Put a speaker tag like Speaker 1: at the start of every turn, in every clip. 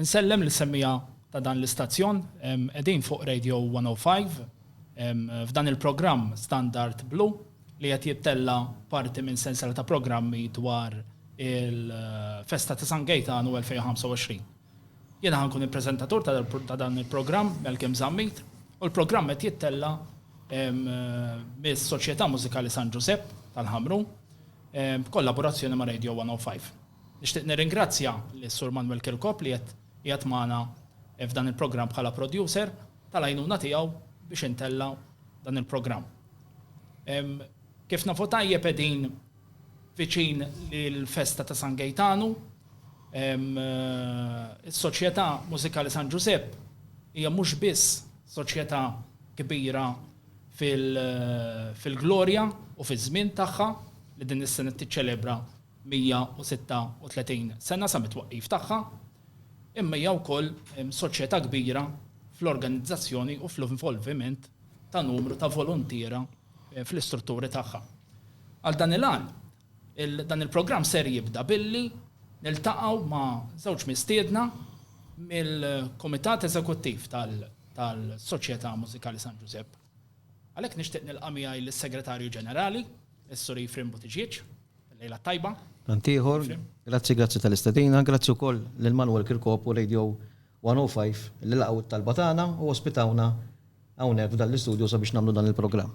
Speaker 1: Insellem lis-semmiegħa ta' dan l-istazzjon, qegħdin fuq Radio 105 f'dan il-programm Standard Blu li qed jittella' parti minn sensiela ta' programmi dwar il-festa ta' San Gejtanu 2025. Jiena ħa nkun il-preżentatur ta' dan il-programm, Malcolm Zammit, u l-programm qed jittella' mis-Soċjetà Mużikali San Ġużepp tal-Ħamrun b'kollaborazzjoni ma' Radio 105. Nixtieq nirringrazzja lis-Sur Manwel Kirkop li qed qiegħed magħna f'dan il-programm bħala producer tal-għajnuna tiegħu biex intella' dan il-programm. Kif nafu tajjeb qegħdin viċin l-festa ta' San Gejtanu. Is-Soċjetà Mużikali San Ġużepp hija mhux biss soċjetà kbira fil-glorja u fiż-żmien tagħha li din is-sena tiċċelebra 136 sena sa mit-twaqqif tagħha, imma hija wkoll soċjetà kbira fl-organizzazzjoni u fl-involviment ta' numru ta' voluntiera fl-istrutturi tagħha. Għal dan il-għan, dan il-programm ser jibda billi niltaqgħu ma' żewġ mistiedna mill-Kumitat Eżekuttiv tal-Soċjetà Mużikali San Ġużepp. Għalhekk nixtieq nilqa' miegħi lis-Segretarju Ġenerali, is-Sur Ephraim Buttigieg. Lejla t-tajba. Tant ieħor. Grazzi, grazzi tal-istedina. Grazzi wkoll lil Manwel Kirkop u Radio 105 li laqgħu t-talba tagħna u ospitawna hawnhekk f'dan l-istudju sabiex nagħmlu dan il-programm.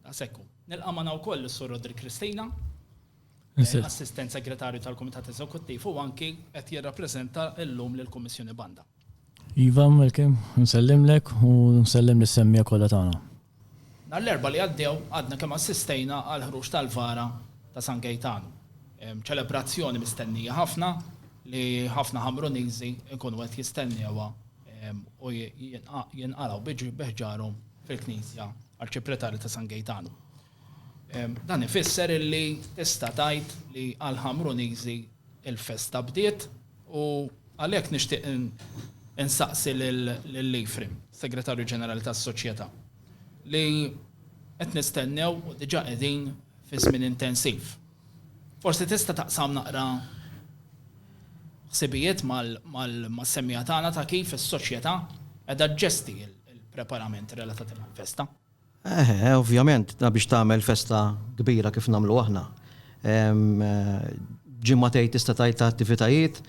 Speaker 1: Daqshekk hu. Nilqa' magħna wkoll lis-Sur Roderick Cristina, Assistent Segretarju tal-Kumitat Eżekuttiv u anki qed jirrappreżenta llum lill-Kummissjoni Banda. Iva, Malcolm, nsellimlek u nsellem lis-semmiegħa kollha tagħna. Nhar l-Erbgħa li għaddew għadna kemm assistejna għall-ħruġ tal-vara ta' San Gejtanu. Ċelebrazzjoni mistennija ħafna li ħafna Ħamruniżi jkunu qed jistennewha u jinqalgħu bi ħġarhom fil-Knisja Arċipretali ta' San Gejtanu. Dan ifisser illi tista' tgħid li għall-Ħamruniżi l-festa bdiet U għalhekk nixtieq insaqsi lil Ephraim, Segretarju Ġenerali tas-Soċjetà, li qed nistennew u diġà qegħdin fi żmien intensiv. Forsi tista' taqsam naqra ħsibijiet mas-semmiegħa tagħna ta' kif is-soċjetà qiegħda ġġesti l-preparamenti relatati mal-festa? Eħe, ovvjament, da biex tagħmel festa kbira kif nagħmlu aħna. Ġimagħtejn tista' tgħid ta' attivitajiet,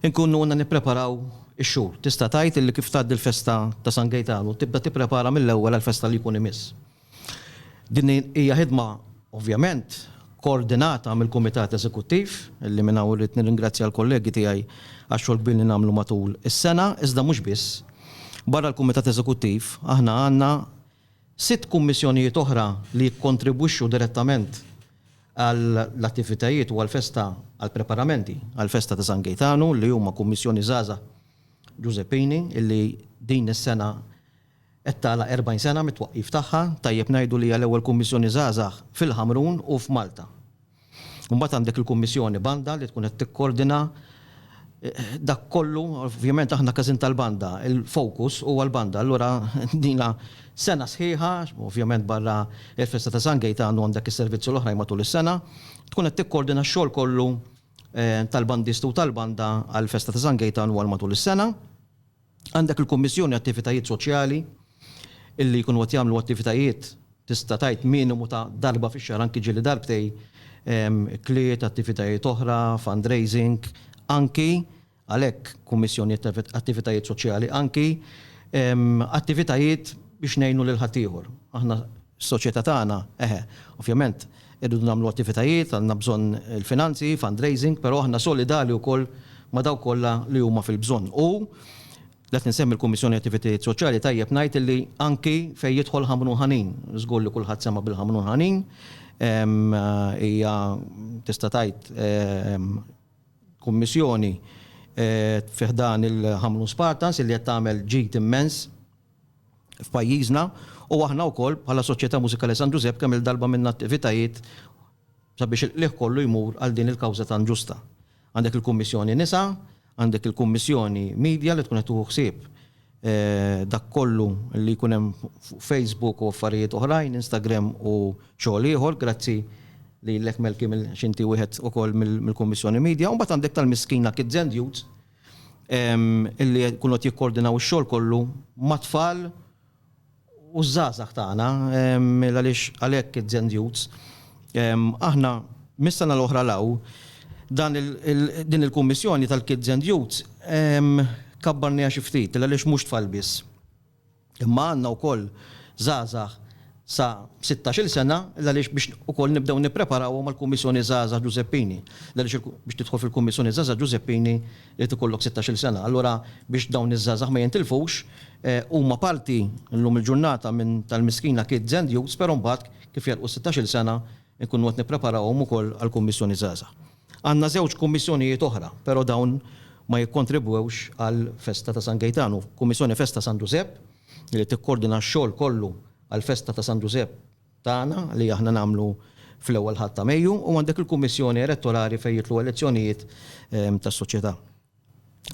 Speaker 1: inkunu għandna nippreparaw ix-xhur. Tista' tgħid illi kif tgħaddi l-festa ta' San Gejtanu tibda tipprepara mill-ewwel għall-festa li jkun imiss. Din hija ħidma ovvjament koordinata mill-Kumitat Eżekuttiv, li minn hawn irrid nirringrazzja l-kollegi tiegħi għax-xogħol kbir li nagħmlu matul is-sena, iżda mhux biss. Barra l-Kumitat Eżekuttiv, aħna għandna sitt kummissjonijiet oħra li jikkontribwixxu direttament għall-attivitajiet u għall-festa, għall-preparamenti għall-festa ta' San Gejtanu, li huma Kummissjoni Żgħażagħ Ġużeppini, li din is-sena, Qed tagħlaq 40 sena mit-twaqqif tagħha, tajjeb ngħidu li hija l-ewwel Kummissjoni Żgħażagħ fil-Ħamrun u f'Malta. Imbagħad għandek il-Kummissjoni Banda li tkun qed tikkordina dak kollu, ovvjament aħna każin tal-banda, il-focus huwa l-banda, allura ilna sena sħiħa, ovvjament barra l-festa ta' San Gejtan u għandek is-servizzi l-oħrajn matul is-sena, tkun qed tikkordina x-xogħol kollu tal-bandisti u tal-banda għall-festa ta' San Gejtan u għal matul is-sena. Għandek il-Kummissjoni Attivitajiet Soċjali illi jkunu qed jagħmlu attivitajiet tista' tgħid minimu ta' darba fix-xahar anki ġieli darbtej, ikliet, attivitajiet oħra, fundraising, anki, għalhekk Kummissjoni Attivitajiet Soċjali, anki attivitajiet biex ngħinu lil ħaddieħor. Aħna s-soċjetà tagħna, eħe, ovvjament, Irridu nagħmlu attivitajiet, għandna bżonn il-finanzi, fundraising, però aħna solidali wkoll ma' dawk kollha li huma fil-bżonn. U, li qed insemmi l-Kummissjoni Attivitajiet Soċjali, tajjeb ngħid illi anki fejn jidħol Ħamrun Ħanin, żgur li kulħadd sema' bil-Ħamrun Ħanin, hija tista' tgħid kummissjoni fi ħdan il-Ħamrun Spartans illi qed tagħmel ġid immens. f'pajjiżna u aħna wkoll bħala Soċjetà Mużikali San Ġużepp kemm-il darba għamilna attivitajiet sabiex il-qligħ kollu jmur għal din il-kawża tant ġusta. Għandek il-Kummissjoni Nisa, għandek il-Kummissjoni Media li tkun qed tieħu ħsieb dak kollu li jkun hemm fuq Facebook u affarijiet oħrajn, Instagram u xogħol ieħor, grazzi lilek Melky għax inti wieħed ukoll mill-Kummissjoni Media. U mbagħad għandek tal-Miskina Kids and Youths illi jkunu qed jikkoordinaw ix-xogħol kollu mat-tfal u ż-żgħażagħ tagħna għaliex għalhekk it-Zen Youths. Aħna mis-sena l-oħra 'l hawn dan din il-kummissjoni tal-Kids and Youths kabbarniha xi ftit għaliex mhux tfal biss. Imma għandna wkoll żgħażagħ sa sittax-il sena l-għaliex biex ukoll nibdew nippreparawhom għall-Kummissjoni Żgħażagħ Ġużeppini. L-għaliex biex tidħol fil-Kummissjoni Żgħażagħ Ġużeppini irid ikollok sittax-il sena. Allura biex dawn iż-żgħażagħ ma jintilfux huma parti llum il-ġurnata minn tal-miskina Kids and Youths però mbagħad kif jagħlqu s-sittax-il sena nkunu qed nippreparawhom ukoll għall-Kummissjoni Żgħażagħ. Għandna żewġ kummissjonijiet oħra, però dawn ma jikkontribwewx għall-festa ta' San Gejtanu, Kummissjoni Festa San Ġużepp li tikkordina x-xogħol kollu għall-festa ta' San Ġużepp tagħna li aħna nagħmlu fl-Ewwel Ħadd ta' Mejju u għandek il-Kummissjoni Elettorali fejn jidħlu elezzjonijiet tas-soċjetà.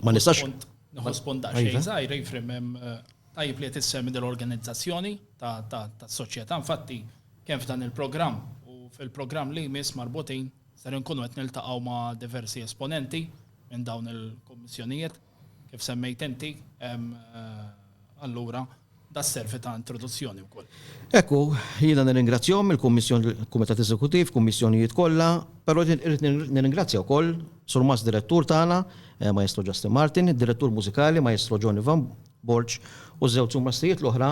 Speaker 1: Ma nistax. Nħos ponta xejn iva. zaħir, jifrim eh, tajib li tissem dell-organizzazzjoni ta' soċjetà. Infatti, kemm f'dan il-programm u fil-programm li jmiss marbutin ser nkunu qed niltaqgħu ma' diversi esponenti minn dawn il-kommissjonijiet kif semmejt inti eh, allura Da serve ta' introduzzjoni wkoll. Hekk hu, jiena nirringrazzjahom il-Kummissjoni, il-Kumitat Eżekuttiv, kummissjonijiet kollha, però irrid nirringrazzja wkoll Sur Mass Direttur tagħna, Maestro Justin Martin, id-Direttur Mużikali, Maestro Johnny Van Borġ, u ż-żewġ surmastijiet l-oħra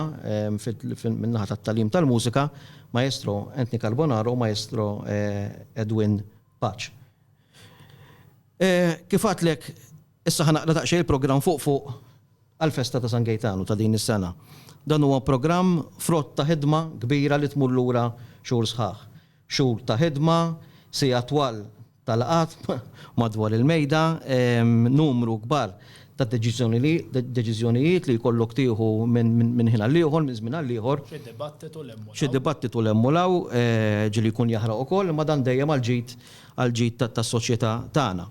Speaker 1: min-naħa tat-tagħlim tal-mużika, Maestro Anthony Carbonaro u Maestro Edwin Paċ. Kif għadtlek, Issa ħa naqra daqsxejn il-programm fuq fuq għall-festa ta' San Gejtanu ta' din is-sena. Dan huwa programm frott ta' ħidma kbira li tmur lura xhur sħaħ. Xhur ta' ħidma, siegħat twal ta' laqgħat madwar il-mejda, numru kbar ta' deċiżjonijiet li jkollok tieħu minn ħin għal ieħor, minn żmien għal ieħor. Xi dibattitu 'l hemm u 'l hawn. Xi dibattitu 'l hemm u 'l hawn, ġieli jkun jaħraq ukoll, imma dan dejjem għall-ġid għall-ġid tas-soċjetà tagħna.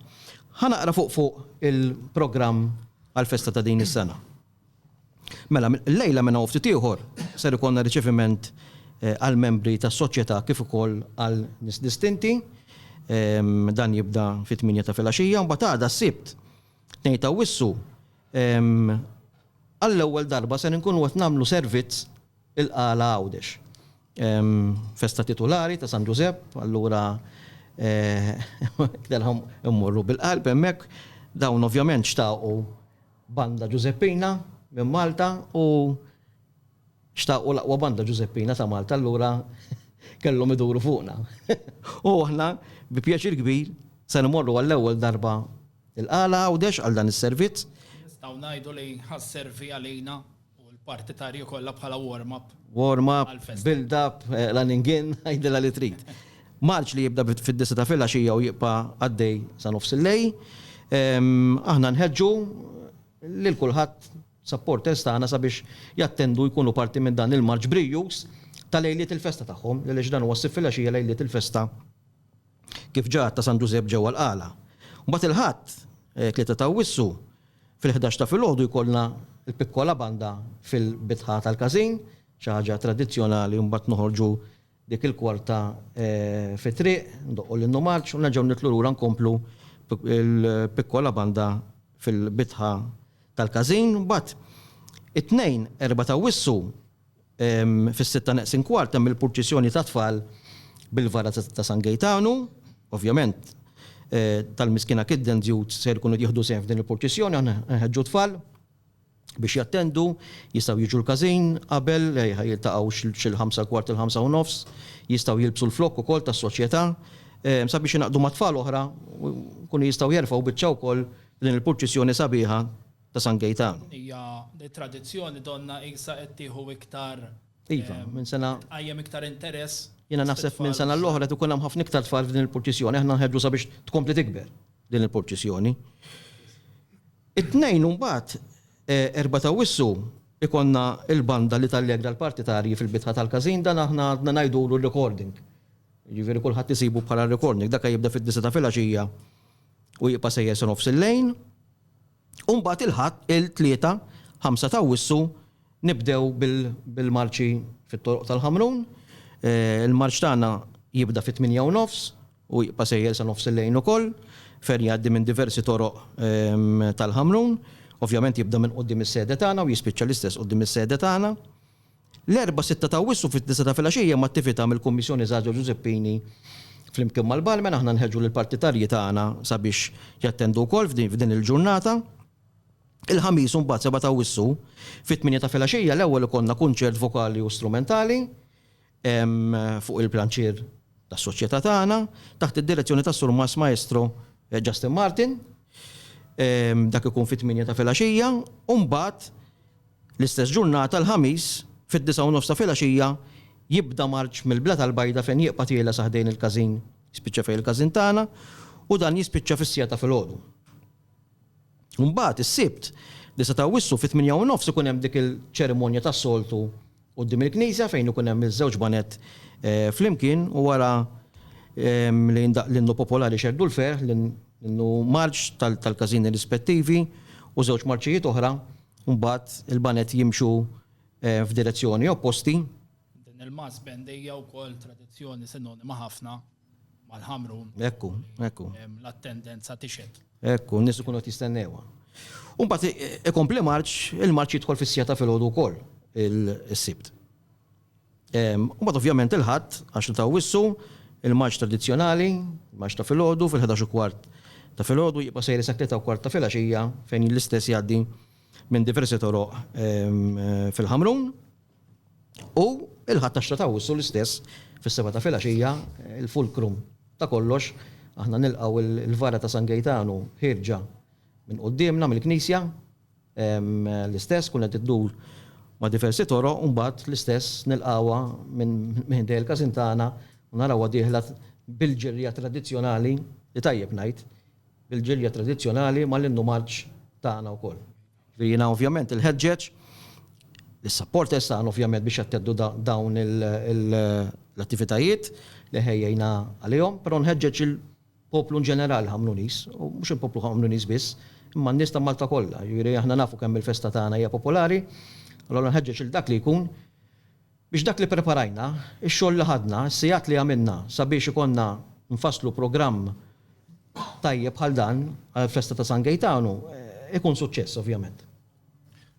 Speaker 1: Ħa naqra fuq fuq il-programm għall-festa ta' din is-sena. Mela, illejla minn hawn ftit ieħor ser ikollna riċeviment għall-membri tas-Soċjetà kif ukoll għal nies distinti. Dan jibda fit-tmienja ta' filgħaxija, mbagħad għada s-Sibt, tnejn ta' Awwissu, għall-ewwel darba ser inkunu qed nagħmlu servizz il-Qala Għawdex. Festa titulari ta' San Ġużepp, allura qedilhom immorru bil-qalb hemmhekk. Dawn ovvjament xtaqu banda Ġużeppina minn Malta u xtaqu l-aqwa banda Ġużeppina ta' Malta allura kellhom iduru fuqna. U aħna bi pjaċir kbir ser immorru għall-ewwel darba il-Qala Għawdex għal dan is-servizz. Nistgħu ngħidu li ħa sservi għalina U l-parti ta' Rio kollha bħala warm-up. Warm-up, build-up, running in, għajdilha li trid. Marċ li jibda fid-disa ta' filgħaxija u jibqa' għaddej sa nofs il-lejl. Aħna nħeġġu lil kulħadd supporters tagħna sabiex jattendu jkunu parti minn dan il-marċ brijjuż ta' lejliet il-festa tagħhom, għaliex dan huwa ssib filgħaxija lejliet il-festa. kif ġa għadd ta' San Ġużepp ġewwa l-Qala. Mbagħad il-Ħadd, tlieta ta' Awwissu, fil-ħdax ta' filgħodu jkollna l-Piccola Banda fil-bitħa tal-każin, xi ħaġa tradizzjonali u mbagħad noħorġu dik il-kwarta fit-triq, ndoqqu l-Innu Marċ u nerġgħu nitlu lura nkomplu l-Piccola Banda fil-bitħa tal-każin. Mbagħad it-Tnejn, erba' ta' Awwissu, Fis-sitta neqsin kwart hemm il-purċissjoni tat-tfal bil-vara ta' San Gejtanu. Ovvjament, tal-Miskina Kittens Youth ser ikunu qed jieħdu sehem f'din il-purċissjoni. Aħna nħeġġu t-tfal biex jattendu, jistgħu jiġu l-każin qabel, jiltaqgħu xi l-ħamsa kwart il-ħamsa u nofs, jistgħu jilbsu l-flokk ukoll tas-Soċjetà sabiex jingħaqdu ma' tfal oħra u jkunu jistgħu jerfgħu biċċa wkoll f'din il-purċissjoni sabiħa ta' San Gejtan. Hija tradizzjoni donnha qisha qed tieħu iktar Iva, minn sena. Tqajjem iktar interess. Jiena naħseb minn sena l-oħra qed ikun hemm ħafna iktar tfal f'din il-purċissjoni. Aħna nħeġġu sabiex tkompli tikber din il-purċissjoni. It-Tnejn imbagħad, Erbgħa ta' Awwissu, ikollna l-banda li tallegra l-partitarji fil-bitħa tal-każin. Dan aħna għadna ngħidulu r-recording. Jiġifieri kulħadd isibu bħala r-recording. Dak jibda fid-disgħa ta' filgħaxija u jibqa' sejjer sa nofs il-lejl. U mbagħad il-Ħadd, il-Tlieta, 5 ta' Awwissu, nibdew bil-marċi fit-toroq tal-Ħamrun. Il-marċ tagħna jibda fit-tmienja u nofs u jibqa' sejjer sa nofs il-lejl ukoll, fejn jgħaddi minn diversi toroq tal-Ħamrun. Ovvjament jibda minn quddiem is-sede tagħna u jispiċċa l-istess quddiem is-sede tagħna. L-Erbgħa, sitta ta' Awwissu fid-disgħa ta' filgħaxija hemm attività mill-Kummissjoni Żgħażagħ Ġużeppini flimkien mal-Barmen. Aħna nħeġġu lill-partitarji tagħna sabiex jattendu wkoll f'din il-ġurnata. Il-Ħamis imbagħad, seba' ta' Awwissu, fit-tmienja ta' filgħaxija l-ewwel ikollna kunċert vokali u strumentali fuq il-pjanċir tas-soċjetà tagħna taħt id-direzzjoni tas-Sur Mass Maestro Justin Martin. Dak ikun fit-tmienja ta' filgħaxija u mbagħad L-istess ġurnata, l-Ħamis, fid-disgħa u nofs ta' filgħaxija, jibda marċ mill-Blat al-Bajda fejn jieqpa' tiela' sa ħdejn il-każin, jispiċċa fejn il-każin tagħna, u dan jispiċċa fis-siegħa ta' filgħodu. Mbagħad, is-Sibt, disa' ta' Awwissu, fit-tmienja u nofs ikun hemm dik il-ċerimonja tas-soltu quddiem il-knisja fejn ikun hemm iż-żewġ baned flimkien u wara li jindaqq l-innu popolari Xehdu l-Ferħ, l-innu marċ tal-każini rispettivi u żewġ marċijiet oħra, mbagħad il-baned jimxu f'direzzjoni opposti. Din il-mass band hija wkoll tradizzjoni sinonima ħafna mal-ħamrun. Ekku, ekku. L-attendenza tixed. Ekku, n-nies ikunu qed jistennewha. U mbagħad ikompli marċ, il-marċ jidħol fis-sija ta' filgħodu wkoll is-Sibt. U mbagħad ovvjament il-Ħadd għax ta' wissu, il-marċ tradizzjonali, marċ ta' filgħodu fil-11 kwart ta' filgħodu jibqa' sejri sa tlieta kwart ta' filgħaxija fejn l-istess jgħaddi minn diversi toroq fil-Ħamrun. U il-Ħadd għaxra ta' Awwissu l-istess fis-sebgħa ta' filgħaxija, il-fulcrum ta' kollox, aħna nilqgħu il-vara ta' San Gejtanu ħierġa minn quddiemna mill-knisja, l-istess tkun qed iddur ma' diversi toroq u mbagħad l-istess nilqgħuha minn ħdejn il-każin tagħna u narawha dieħla bil-ġirja tradizzjonali, li tajjeb ngħid, bil-ġirja tradizzjonali mal-innu marċ tagħna wkoll. Jiena ovvjament inħeġġeġ lis-supporters tagħna ovvjament biex jatteddu dawn l-attivitajiet li ħejjejna għalihom, però nħeġġeġ il-poplu inġenerali Ħamruniż, u mhux il-poplu Ħamruniż biss, imma n-nies ta' Malta kollha, jiġifieri aħna nafu kemm il-festa tagħna hija popolari, allura nħeġġeġ lil dak li jkun Biex dak li ppreparajna, ix-xogħol li ħadna, is-sigħat li għamilna sabiex ikollna nfasslu programm tajjeb bħal dan għall-festa ta' San Gejtanu ikun suċċess ovvjament.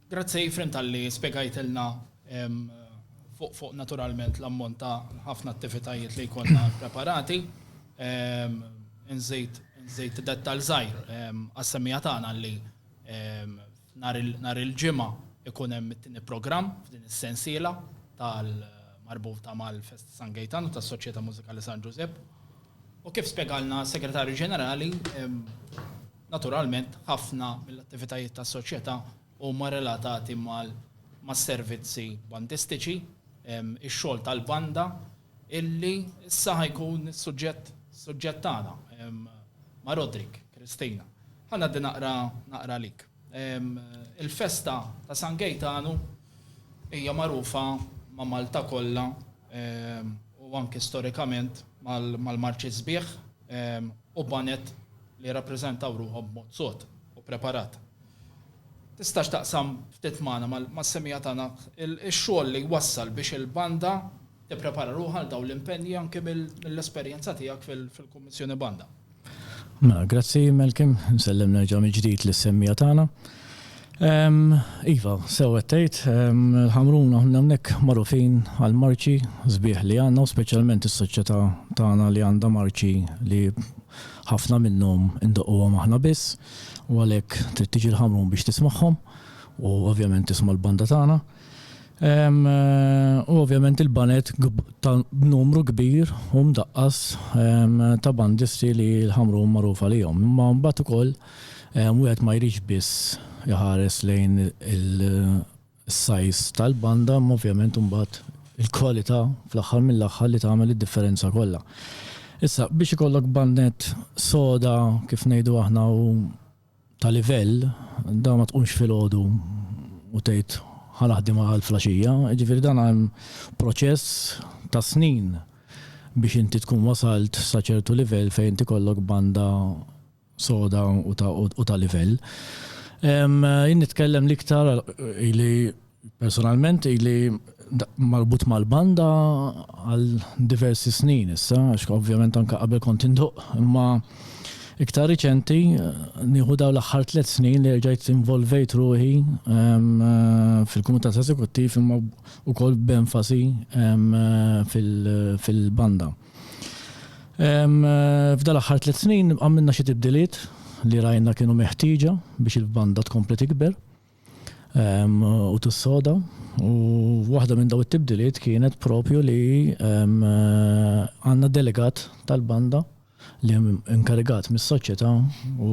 Speaker 1: Grazzi Efrem talli spjegajtilna fuq naturalment l-ammont ta' ħafna attivitajiet li jkollna ppreparati. Inżid dettal żgħir għas-semmiegħa tagħna li Nhar il-Ġimgħa ikun hemm it-tieni programm f'din is-sensiela tal-marbuta mal-Fest San Gejtan u tas-Soċjetà Mużikali San Ġużepp. U kif spjegalna s-Segretarju Ġenerali, naturalment ħafna mill-attivitajiet tas-Soċjetà huma relatati mas-servizzi bandistiċi, ix-xogħol tal-banda illi issa ħa jkun is-suġġett suġġett tagħna ma' Roderick, Christina. Ħa ngħaddi naqra naqra lik. Il-festa ta' San Gejtanu hija magħrufa ma' Malta kollha u anki storikament mal-marċi sbieħ u baned li jirrappreżentaw ruħhom b'mod sod u preparat. Tistax taqsam ftit magħna, mas-semmiegħa tagħna, ix-xogħol li wassal biex il-Banda tipprepara ruħha għal dawn l-impenji anki mill-esperjenza tiegħek fil-Kummissjoni Banda? Mela, grazzi Malcolm, insellem nerġa' mill-ġdid lis-semmiegħa tagħna. Iva, sew qed tgħid, il-Ħamrun aħna hawnhekk magħrufin għall-marċi sbieħ li għandna u speċjalment is-soċjetà tagħna li għandha marċi li ħafna minnhom indoqquhom aħna biss. U għalhekk trid tiġi l-Ħamrun biex tismagħhom u ovvjament tisma' l-banda tagħna. U ovvjament il-baned ta' numru kbir u mdaqqas ta' bandisti li l-Ħamrun magħruf għalihom. Imma mbagħad ukoll wieħed ma jridx biss iħares lejn il- is-size tal-banda imma ovvjament imbagħad il-kwalità fl-aħħar mill-aħħar li tagħmel id-differenza kollha. Issa, biex ikollok bandnett soda kif ngħidu aħna u ta' livell, dan ma tqumx filgħodu u tgħid ħa naħdimha għal flaxija, jiġifieri dan hemm proċess ta' snin biex inti tkun wasalt sa ċertu livell fejn inti jkollok banda soda u ta' livell. Jien nitkellem l-iktar ili personalment ili marbut mal-banda għal diversi snin issa, għax ovvjament anke qabel kont induq, imma iktar riċenti nieħu dawn l-aħħar tliet snin li erġajt involvejt ruħi fil-Kumitat Eżekuttiv imma wkoll b'enfasi fil-banda. F'dal-aħħar tliet snin għamilna xi tibdiliet li rajna kienu meħtieġa biex il-banda tkompli tikber u tissoda. U waħda minn daw it-tibdiliet kienet propju li għandna delegat tal-banda li inkarigat mis-soċjetà u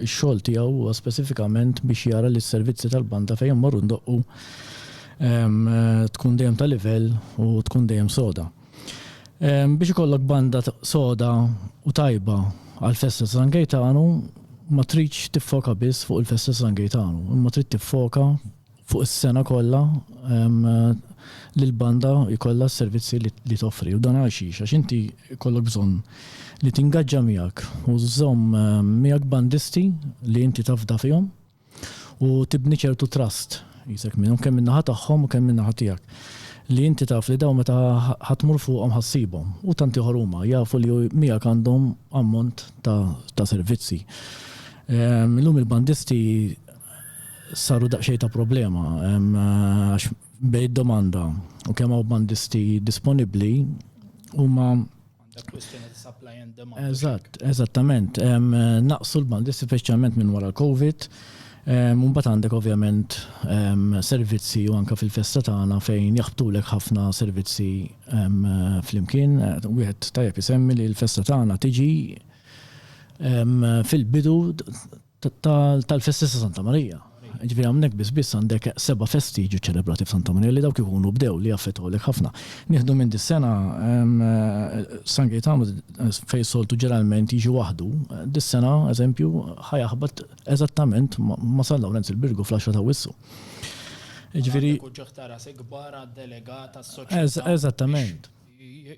Speaker 1: x-xogħol tiegħu huwa speċifikament biex jara li s-servizzi tal-banda fejn immorru ndoqqu tkun dejjem ta' livell u tkun dejjem soda. Biex ikollok banda soda u tajba għall-festa ta' San Gejtanu ma tridx tiffoka biss fuq il-festa ta' San Gejtanu, imma trid tiffoka fuq is-sena kollha li l-banda jkollha s-servizzi li toffri. U dan għal xiex? Għax inti jkollok bżonn li tingaġġa miegħek u żżomm miegħek bandisti li inti tafda fihom, u tibni ċertu trust qisek minnhom kemm min-naħa tagħhom u kemm min-naħa tiegħek li inti taf li dawn meta ħa tmur fuqhom ħa ssibhom u tant ieħor huma jafu li miegħek għandhom ammont ta' ta' servizzi. Illum il-bandisti saru daqsxejn ta' problema għax bejn id-domanda u kemm hawn bandisti disponibbli huma Għandek kwistjoni ta' supply and demand. Eżatt, eżattament. Naqsu l-bandi speċjalment minn wara l-COVID. Imbagħad għandek ovvjament servizzi u anke fil-festa tagħna fejn jaħbtulek ħafna servizzi flimkien. Wieħed tajjeb isemmi li l-festa tagħna tiġi fil-bidu tal-festi ta' Santa Marija. Ġifieri hawnhekk biss biss għandek seba' festi jiġu ċċelebrati f'Santa Marija li dawk ikunu bdew li jaffettwawlek ħafna. Nieħdu minn dis-sena San Gejtanu fejn soltu ġeneralment jiġi waħdu, dis-sena, eżempju, ħa jaħbat eżattament ma' San Lawrenz il-Birgu fl-għaxra ta' Awwissu. Jiġifieri. Għandek uċuħ ta' rasi kbar għad-delegata s-soċjetà. Eżattament.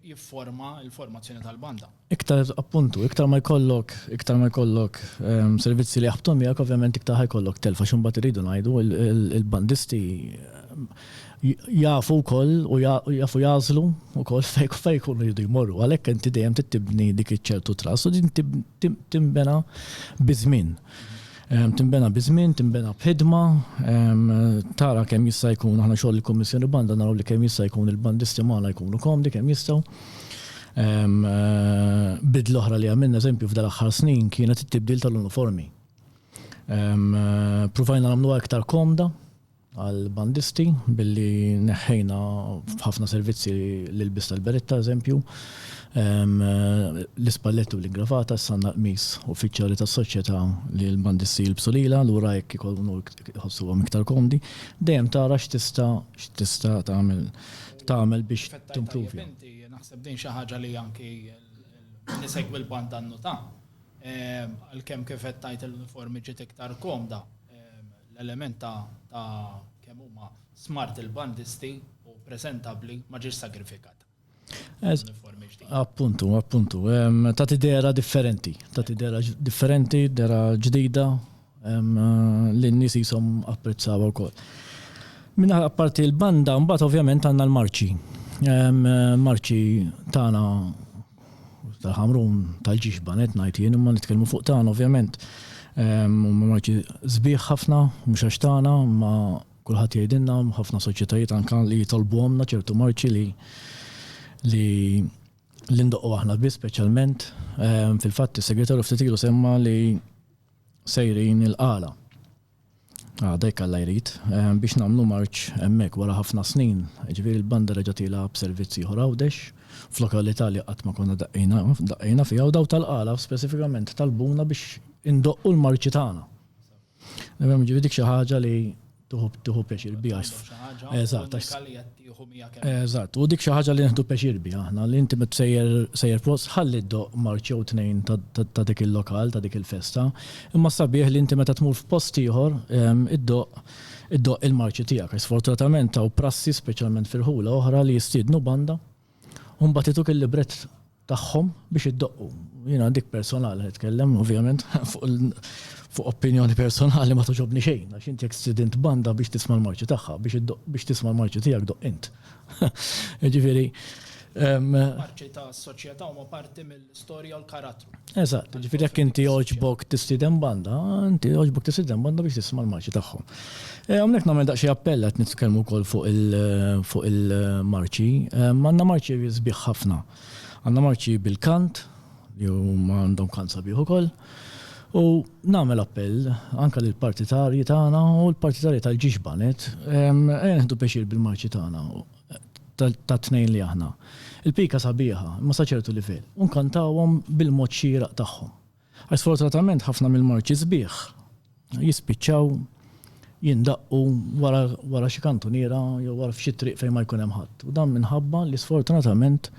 Speaker 1: jifforma l-formazzjoni tal-banda. Iktar, appuntu, iktar ma jkollok, iktar ma jkollok servizzi li jaħbtu miegħek, ovvjament iktar ħa jkollok telf għax imbagħad irridu ngħidu l-bandisti jafu wkoll u jafu jagħżlu wkoll fejn ikunu jridu jmorru. Għalhekk inti dejjem trid tibni dik iċ-ċertu trust u din tinbena biż-żmien. Tinbena biż-żmien, tinbena b'ħidma, tara kemm jista' jkun aħna xogħol il-Kummissjoni Banda naraw li kemm jista' jkun il-bandisti magħna jkunu komdi kemm jistgħu. Bidla oħra li għamilna eżempju f'dan l-aħħar snin kienet it-tibdil tal-uniformi. Pruvajna nagħmluha iktar komda, għall-bandisti billi neħħejna f'ħafna servizzi l-ilbies tal-berett pereżempju, l-ispalletti u l-ingravata, issa għandna l-qmis uffiċjali tas-Soċjetà li l-bandisti jilbsu lilha, lura hekk ikunu jħossuhom iktar komdi. Dejjem tara x'tista' x'tista' tagħmel tagħmel biex timprovja. Naħseb din xi ħaġa li anki min isegwi l-banda nnota. Għalkemm kif qed tgħid l-uniformi ġiet iktar komda, L-element ta' ta' kemm huma smart il-bandisti u preżentabbli ma ġiex sagrifikat. Appuntu, appuntu. Ta' tidera differenti. Ta' tidera differenti, dera ġdida li n-nies jisom apprezzaw ukoll. Minna apparti l-banda, mbagħad ovvjament għandna l-marċi. Marċi tagħna Tal-Ħamrun, tal-Ġiġba qed ngħid jien imma nitkellmu fuq tagħna ovvjament. Huma marki sbieħ ħafna, mhux għax tagħna, imma kulħadd jgħidilna ħafna soċjetajiet anke li jitolbuhomna ċertu marċi li li li ndoqqu aħna biss speċjalment. Fil-fatt is-segretarju ftit ilu semma li sejrin il-qala. Għada jekk Alla jrid, biex nagħmlu marċ hemmhekk wara ħafna snin. Ġifieri l-banda reġgħet ilha b'servizz ieħor Għawdex, f'lokalità li qatt ma konna daqqejna daqqejna fiha u dawk tal-Qala speċifikament talbuna biex indoqqu l-marċi tagħna. Ġifieri dik xi ħaġa li tieħu tieħu pjaċir biha. Eżatt, għax Eżatt, u dik xi ħaġa li nieħdu pjaċir biha aħna, li inti meta sejjer sejjer post ħalli ddoqq marċ jew tnejn ta' dik il-lokal, ta' dik il-festa. Imma s-sabiħ li inti meta tmur f'post ieħor iddoqq iddoqq il-marċi tiegħek. Sfortunatament hawn prassi speċjalment f'irħula oħra li jistiednu banda U mbagħad ituk il-librett tagħhom biex iddoqqu. Jiena dik personali nitkellem, ovvjament, fuq opinjoni personali ma toġobni xejn, għax inti jekk stridint banda biex tisma' l-marċi tagħha, biex tisma' l-marċi tiegħek doqq int. Jiġifieri. Marċi tas-soċjetà huma parti mill. l-istorja u l-karattru. Eżatt, ġifieri jekk inti jogħġbok tistieden banda, inti jogħġbok tistieden banda biex tisma' l-marċi tagħhom. Eh, hawnhekk nagħmel daqsxejn appell qed nitkellmu wkoll fuq il-marċi. Eh, għandna marċi sbieħ ħafna. Għandna marċi bil-kant, li huma għandhom kant sabiħ ukoll. U nagħmel appell anke lill partitarji tagħna u l-partitarji tal-ġiġbanet, eh, neħdu pexir bil-marċi tagħna. tat-tnejn li aħna. Il-pika sabiħa, imma sa ċertu livell, u nkantawhom bil-mod xieraq tagħhom. Għax sfortunatament ħafna mill-marċi sbieħ jispiċċaw jindaqqu wara, wara xi kantuniera jew wara f'xi triq fejn ma jkun hemm ħadd. U dan minħabba li sfortunatament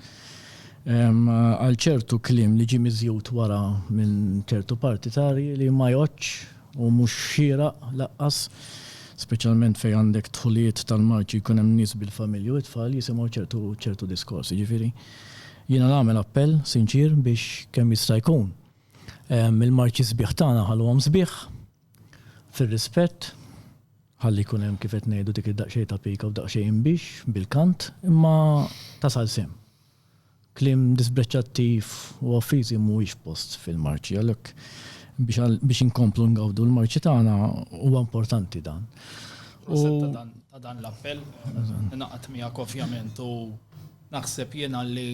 Speaker 1: għal ċertu kliem li ġie miżjud wara minn ċertu partitarji li ma jgħoddx U mhux xieraq lanqas, speċjalment fejn għandek dħulijiet tal-marċi jkun hemm nies bil-familji u t-tfal jisimgħu ċertu ċertu diskorsi. Jiġifieri jiena nagħmel appell sinċier biex kemm jista' jkun il-marċi sbieħ tagħna ħalluhom sbieħ, fir-rispett, ħalli jkun hemm kif qed ngħidu dik id-daqsxejn ta' pika u daqsxejn inbix bil-kant, imma tasal sehem. Kliem disprecattiv u offiżi mhuwiex f'post fil-marċi, għalhekk biex inkomplu ngawdu l-marċi tagħna huwa importanti dan. Proset ta' dan l-appell, ingħaqad miegħek ovvjament u naħseb jiena li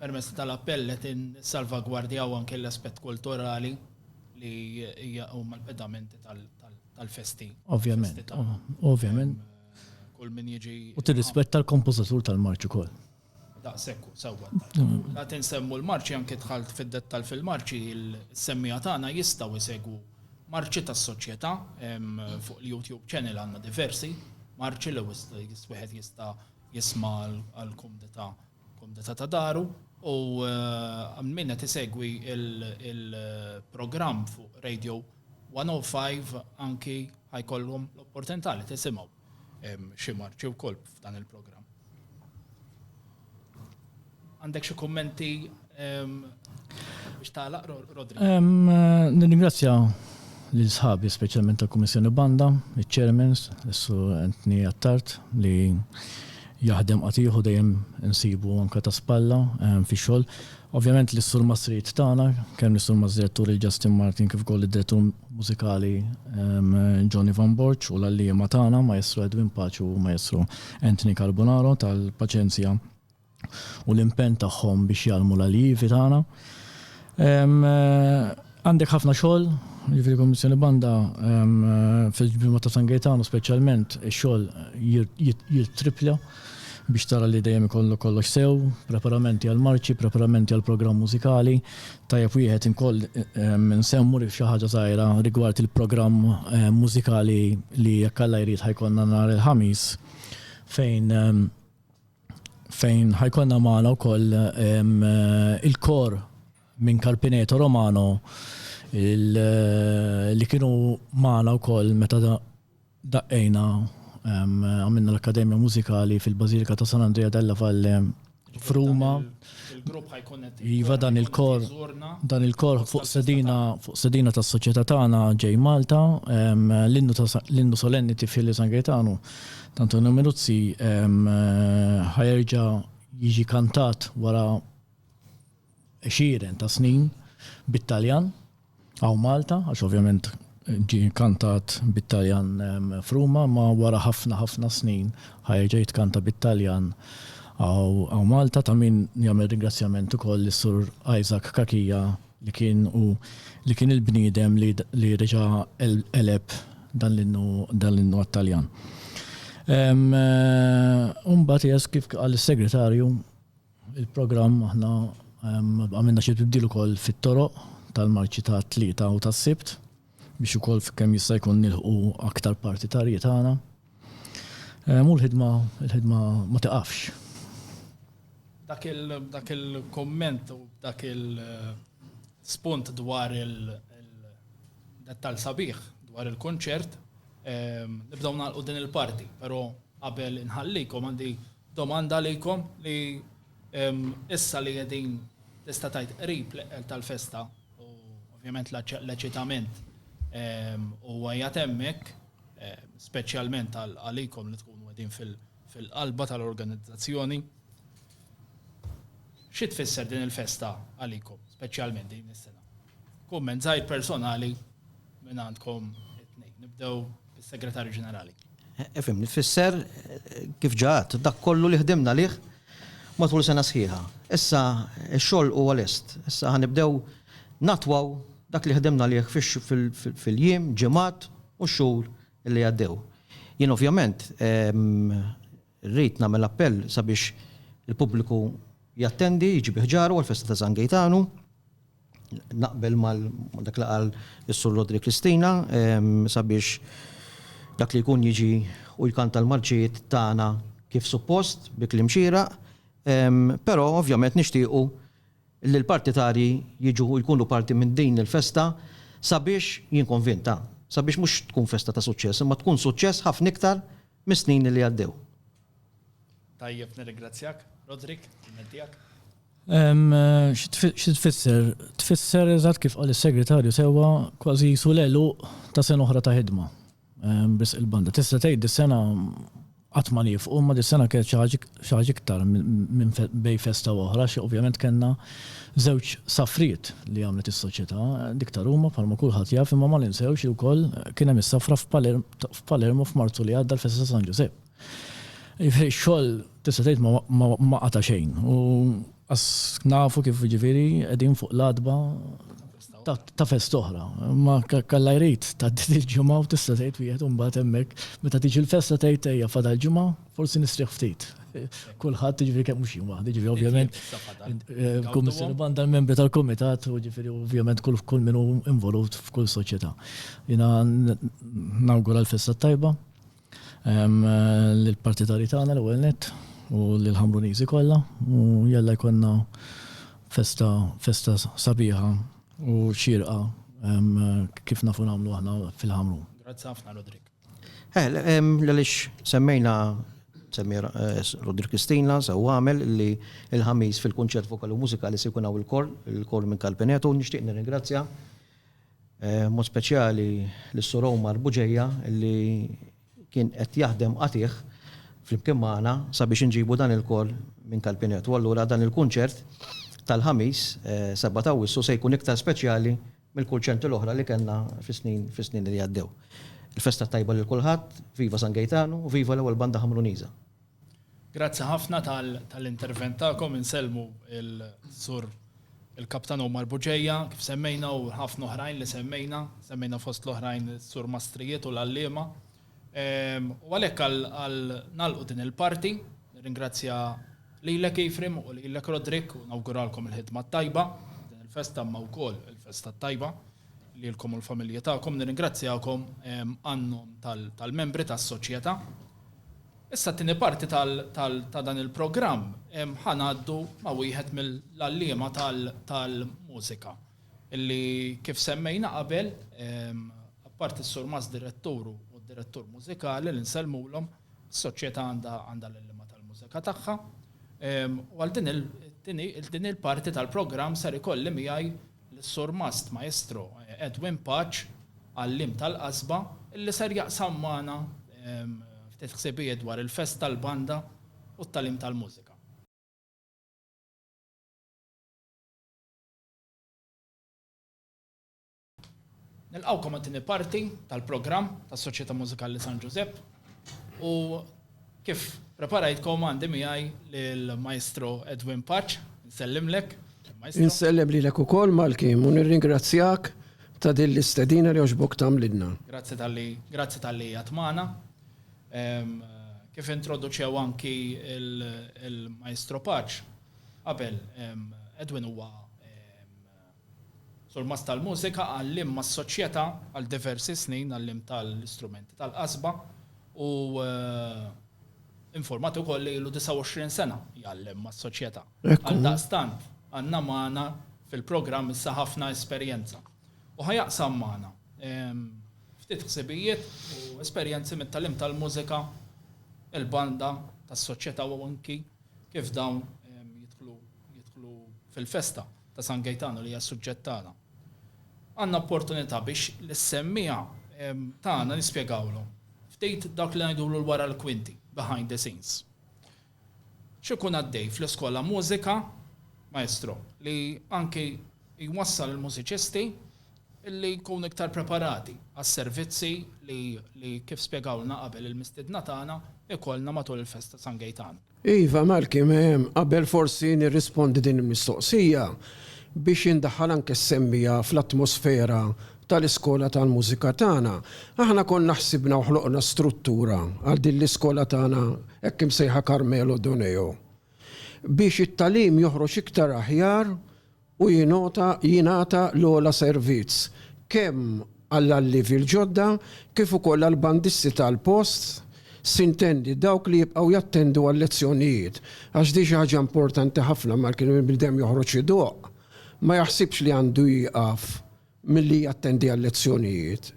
Speaker 1: permezz tal-appell qed insalvagwardjaw anke l-aspett kulturali li hija huma l-pedamenti tal-festi. Ovvjament, ovvjament. Kull min jiġi. U tirrispetta l-kompożitur tal-marċi wkoll. Daqsekku, sewwa. La tinsemmu l-marċi anke dħalt fid-dettal fil-marċi il-semmija tagħna jistgħu jsegwu marċi tas-soċjetà fuq il-YouTube channel għandna diversi marċi li wieħed jista' jisma' għall-kumdità kumdità ta' daru u min qed isegwi il-programm fuq Radio 105 anki ħajkollhom l-opportunità li tisimgħu xi marċi wkoll f'dan il-programm. Għandek xi kummenti biex tagħlaq Rodri? Nirringrazzja lil sħabi speċjalment tal-Kummissjoni Banda, iċ-Chairmans, issu Anthony Attard li jaħdem qatiħu dejjem insibu anke ta' spalla fix-xogħol. Ovvjament li s-Sur Mastrid tagħna, kemm lis-Sur Mażdirettur il-Justin Martin kif ukoll lid-Direttur Mużikali Johnny Van Borġ u l-għalliema tagħna Maestro Edwin Paċi u Maestro Anthony Carbonaro tal-paċenzja u l-impenn tagħhom biex jgħallmu l-allievi tagħna. Għandek ħafna xogħol, jiġifieri l-Kummissjoni Banda fil-ġbir ta' San Gejtanu speċjalment ix-xogħol jittrippja biex tara li dejjem ikollok kollox sew, preparamenti għall-marċi, preparamenti għall-programm mużikali. Tajjeb wieħed inkoll insemmu li xi ħaġa żgħira rigward il-programm mużikali li jekk Alla jrid ħa jkollna nhar il-Ħamis fejn fejn ħa jkollna magħna wkoll il-kor minn Carpineto Romano li kienu magħna wkoll meta daqqejna għamilna l-Akkademja Mużikali fil-Bażilika ta' San Andrea della Valle f'Ruma. Il-grupp ħajkun Iva dan il-kor dan il-kor fuq sedina fuq sedina tas-soċjetà tagħna ġej Malta l-innu solenni tifili San Gaetano Antonio Minuzzi ħajerġa' jiġi kantat wara għexieren ta' snin bit-Taljan, hawn Malta, għax ovvjament ġie kantat bit-Taljan f'Ruma, imma wara ħafna ħafna snin ħa jerġa' jitkanta bit-Taljan hawn Malta, ta' min jagħmel ringrazzjament ukoll lis-Sur Isaac Cachia li kien hu li kien il-bniedem li reġa' qeleb dan l-innu dan l-innu għat-Taljan. U mbagħad eżatt kif qal is-Segretarju, Il-programm aħna għamilna xi tibdil ukoll fit-toroq tal-marċi tat-Tlieta u tas-Sibt biex ukoll kemm jista' jkun nilħqu aktar partitarji tagħna. U l-ħidma l-ħidma ma tiqafx. Dak il dak il-kumment u dak il-spunt dwar il-dettall sabiħ dwar il-kunċert, nibdew nagħlqu din il-parti, però qabel inħallikom għandi Domanda għalikom li issa li qegħdin tista' tgħid qrib l-eqqel tal-festa u ovvjament l-eċitament huwa qiegħed hemmhekk, speċjalment għalikom li tkunu qegħdin fil-qalba tal-organizzazzjoni. Xi tfisser din il-festa għalikom, speċjalment din is-sena? Kumment żgħir personali minn għandkom it-tnejn. Nibdew bis-Segretarju Ġenerali. Ifhimni, tfisser kif ġa għadt, dak kollu li ħdimna għalih matul sena sħiħa. Issa x-xogħol huwa lest. Issa ħa nibdew nattwaw dak li ħdimna għalih fil-jiem, ġimgħat u x-xhur li għaddew. Jien ovvjament Irrid nagħmel appell sabiex il-pubbliku jattendi, jġib iħġaru għall-festa ta' San Gejtanu. Naqbel mal dak li qal is-Sur Rodri Cristina sabiex dak li jkun jiġi u jkanta l-marċijiet tagħna kif suppost, bi kliem xieraq, però ovvjament nixtiequ li l-partitarji jiġu u jkunu parti minn din il-festa sabiex, jien konvint ha, sabiex mhux tkun festa ta' suċċess imma tkun suċċess ħafna iktar mis-snin li għaddew. Tajjeb, nirringrazzjak. Roderick, il-ment tiegħek? Xi tfisser? Tfisser eżatt kif qal is-Segretarju sewwa kważi qisu l-għeluq ta' sena oħra ta' ħidma. Biss il-banda. Tista' tgħid dis-sena qatt ma nifqu, imma dis-sena kienet xi ħaġa iktar minn bejn festa u oħra, xi ovvjament kellna żewġ safriet li għamlet is-soċjetà, dik ta' Ruma bħalma kulħadd jaf, imma ma ninsewx li wkoll kien hemm is-safra f'Palermo f'Marzu li għadda l-festa ta' San Ġużepp. Jiġifieri x-xogħol tista' tgħid ma qata' xejn u qas nafu kif jiġifieri qegħdin fuq l-għatba ta' festa oħra. Ma Alla jrid tgħaddi il-ġimgħa u tista' tgħid wieħed imbagħad hemmhekk meta tiġi l-festa tgħid ejja fadal ġimgħa Forsi nistrieħ ftit. Kulħadd ġifieri kemm mhux jien waħdi, ġifieri ovvjament eh, kummissjoni banda l-membri tal-kumitat u ġifieri ovvjament kull kull min hu involut f'kull soċjetà. Jiena nawgura l-festa tajba eh, l-partitari tagħna l-ewwel net u l-ħamruniżi kollha u jalla jkollna festa festa sabiħa u xirqa kif nafu nagħmlu aħna fil-ħamrun. Grazzi ħafna Rodrik. Għaliex semmejna, semmi Rodri Christina, sew għamel, li l-Ħamis fil-kunċert vokali u mużikali se jkun hawn il-kor, il-kor minn Kalpinetu, nixtieq nirringrazzja b'mod speċjali lis-Sur Omar Buġeja li kien qed jaħdem qatigħ flimkien magħna sabiex inġibu dan il-kor minn Kalpinetu. Allura dan il-kunċert tal-Ħamis, 7 ta' Awwissu, se jkun iktar speċjali mill-kulċenti l-oħra li kellna fis-snin fis-snin li għaddew. Il-festa t-tajba lil kulħadd, viva San Gejtanu u viva l-ewwel banda Ħamruniża. Grazzi ħafna tal tal-intervent tagħkom, insellmu il Sur il-Kaptan Omar Buġeja kif semmejna u ħafna oħrajn li semmejna, semmejna fost l-oħrajn is-Sur Mastrijiet u l-għalliema U għalhekk għal nagħlqu din il-parti, nirringrazzja lilek Ephraim u lilek Rodrik u nawguralkom il-ħidma t-tajba din il-festa imma wkoll il-festa t-tajba lilkom u l-familji tagħkom. Nirringrazzjakom għan-nom tal-membri tas-soċjetà. Issa t-tieni parti ta' dan il-programm ħa ngħaddu ma' wieħed mill-għalliema tal-mużika. Illi kif semmejna qabel, apparti s-Sur Mas Direttur u d-Direttur Mużikali li nsellmulhom, is-Soċjetà għandha l-illiema tal-mużika tagħha. U għal din il-din il-parti tal-programm ser ikolli miegħi lis-Sur Mast Maestro Edwin Paċ, għalliem tal-qasba, illi ser jaqsam magħna ftit ħsibijiet dwar il-fest tal-banda u t-tagħlim tal-mużika. Nilqgħukom għat-tieni parti tal-programm tas-Soċjetà Mużikali San Ġużepp u kif preparajtkom għandi miegħi lill-Maestro Edwin Paċ, nsellimlek. Insellem lilek ukoll Malkim u nirringrazzjak ta' din l-istedina li għoġbok tagħmlilna. Grazzi tal-li, grazzi tal-li jatmana. Kif introduċew anki il-Maestro Paċ, Qabel, Edwin huwa surmast tal-mużika, għalliem mas-Soċjetà għal diversi snin, għalliem tal-istrumenti tal-qasba u infurmat ukoll li ilu 29 sena jgħallem mas-Soċjetà. Għaldaqstant, għandna magħna fil-programm issa ħafna esperjenza. U ħa jaqsam magħna ftit ħsibijiet u esperjenzi mit-tagħlim tal-mużika, il-banda tas-Soċjetà u anki kif dawn jidħlu fil-festa ta' San Gejtanu li hija s-suġġett tagħna. Għandna opportunità biex lis-semmiegħa tagħna nispjegawlhom ftit dak li ngħidulu l-wara l-kwinti, behind the scenes. X'ikun għaddej fl-iskola mużika, maestro, li anki Jwassal il-mużiċisti li jkunu iktar preparati għas-servizzi li kif spjegawlna qabel il-mistiedna tagħna jkollna matul il-festa ta' San Gejtan. Iva, Malky, qabel forsi nirrispondi din il-mistoqsija, biex indaħħal anke s-semmiegħa fl-atmosfera tal-Iskola tal-Mużika tagħna, aħna konna ħsibna u ħloqna struttura għal din l-iskola tagħna hekk imsejħa Carmelo Doneo biex it-tagħlim joħroġ iktar aħjar u jingħota jingħata l-ogħla servizz kemm għall-allievi l-ġodda kif ukoll għall-bandisti tal-post, sintendi dawk li jibqgħu jattendu għal-lezzjonijiet, għax di xi ħaġa importanti ħafna malli kien il-bniedem joħroġ idoqq, ma jaħsibx li għandu jieqaf milli jattendi għal-lezzjonijiet.